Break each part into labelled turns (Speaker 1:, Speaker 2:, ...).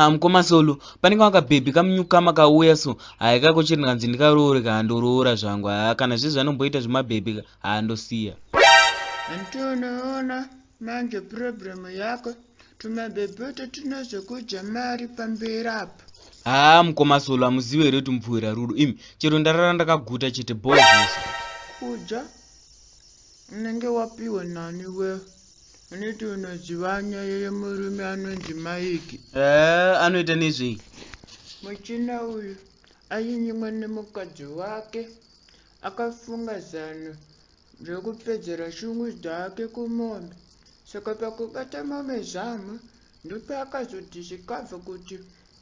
Speaker 1: haa mukoma solo panenge wakabhebhi kamunyukama kauya so haya kako chiri ndikanzi ndikaroore kaa ndoroora zvangu haa kana zvizvi anomboita zvemabhebhi haa ndosiya antonoona
Speaker 2: manje problem yako tumabhebhoto tunozokudya mari pamberi apo haa ah, mukoma solo amuzive
Speaker 1: here kuti mupfuhwira rudo imi chero ndarara ndakaguta chete bho zvese kudya
Speaker 2: unenge wapiwa nani we unoti unoziva nyaya yemurume anonzi maiki ee eh, anoita
Speaker 1: nezvei muchina
Speaker 2: uyu ainyimwa nemukadzi wake akafunga zano ndokupedzera shungu dzake kumombe saka pakubata mombe zamu ndopaakazoti zvikabva kuti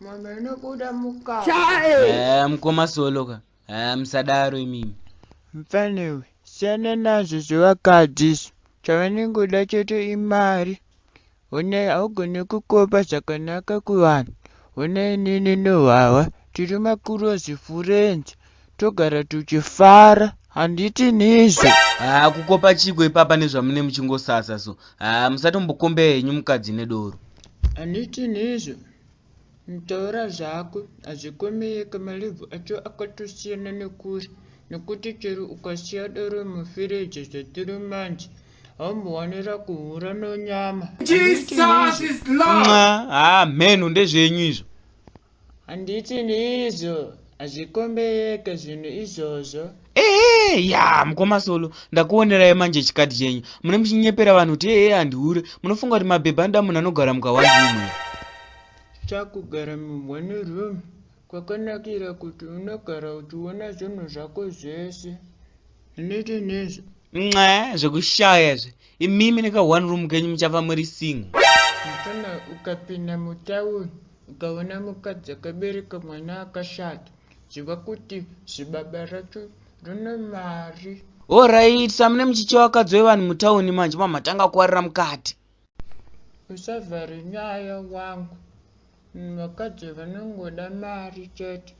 Speaker 2: mombe inobuda mukati mukoma soloka
Speaker 1: musadaro imimi mfanewe
Speaker 2: siyana nazvo zvevakadzi izvo chavanenge kuda chete imari Honai haugone kukopa zvakanaka kuvanhu honai inini nehwahwa tiri makurozi furenzi togara tuchifara handiti nizvo haa kukopa
Speaker 1: chiko ipapa nezvamune muchingosasa so haa musatombokombea henyu mukadzi nedoro handiti
Speaker 2: nizvo Taura zvako hazvikomeyeka malive acho akatosiyana nekure nekuti chero ukasiya doro mufiriji zvatiri manje haumbowanira kuhura nonyama
Speaker 3: haa mhenhu ndezvenyu
Speaker 1: izvo handiti
Speaker 2: ndiizvo hazvikombeyeke zvinhu izvozvo ehe ya
Speaker 1: mukoma solo ndakuonerai manje chikati chenyu mune muchinyepera vanhu kuti ehe handihure munofunga kuti mabhebha anoda munhu anogara mukawandimwe
Speaker 2: chakugara mumwani room kwakanakira kuti unogara uchiona zvinhu zvako zvese unete nezvo nxa zvekushaya
Speaker 1: zve imimi neka one room kenyu muchafa muri single mfana
Speaker 2: ukapinda mutauni ukaona mukadzi akabereka mwana akashata Ziva kuti zibaba racho rine mari. Horaiti,
Speaker 1: samune muchicha wakadzi wevanhu mutauni manje mamatanga kuwarira mukati.
Speaker 2: Usavhare nyaya wangu. Vakadzi vanongoda mari chete.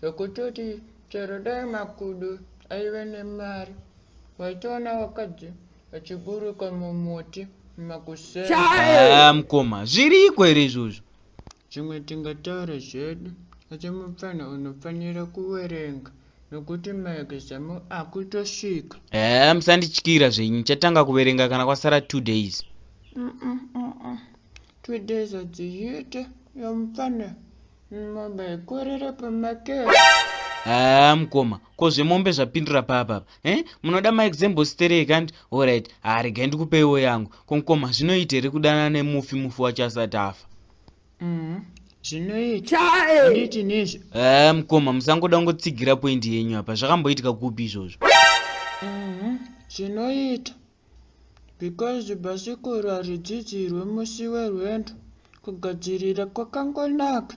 Speaker 2: Zvekutoti chero dai makudo aive nemari waitoona vakadzi vachiburuka mumuti makuseni. Haa mukoma,
Speaker 1: zviriko here izvozvo? Zvimwe
Speaker 2: tingataure zvedu asi mupfanha unofanira kuwerenga nokuti maexam akutosvika. Ehe musandityira
Speaker 1: zvenyu nchatanga kuverenga kana kwasara two days. Mm-mm, mm-mm.
Speaker 2: Two days hadziite yomupfanha mombe haikorere pamakero. Haa
Speaker 1: mukoma ko zvemombe zvapindura papa apa eh? munoda maexambo sterei kanti horit haregai ndikupeiwo yangu Ko mkoma zvinoita here kudanana nemufi mufi wacho asati afa? Mm, zvinoita.
Speaker 2: Chae. Handiti nezve. Eh mkoma musangoda
Speaker 1: kungotsigira point yenyu apa zvakamboitika kupi izvozvo? Mm,
Speaker 2: zvinoita. Because bhasikoro haridzidzirwe musi werwendo. Kugadzirira kwakangonaka.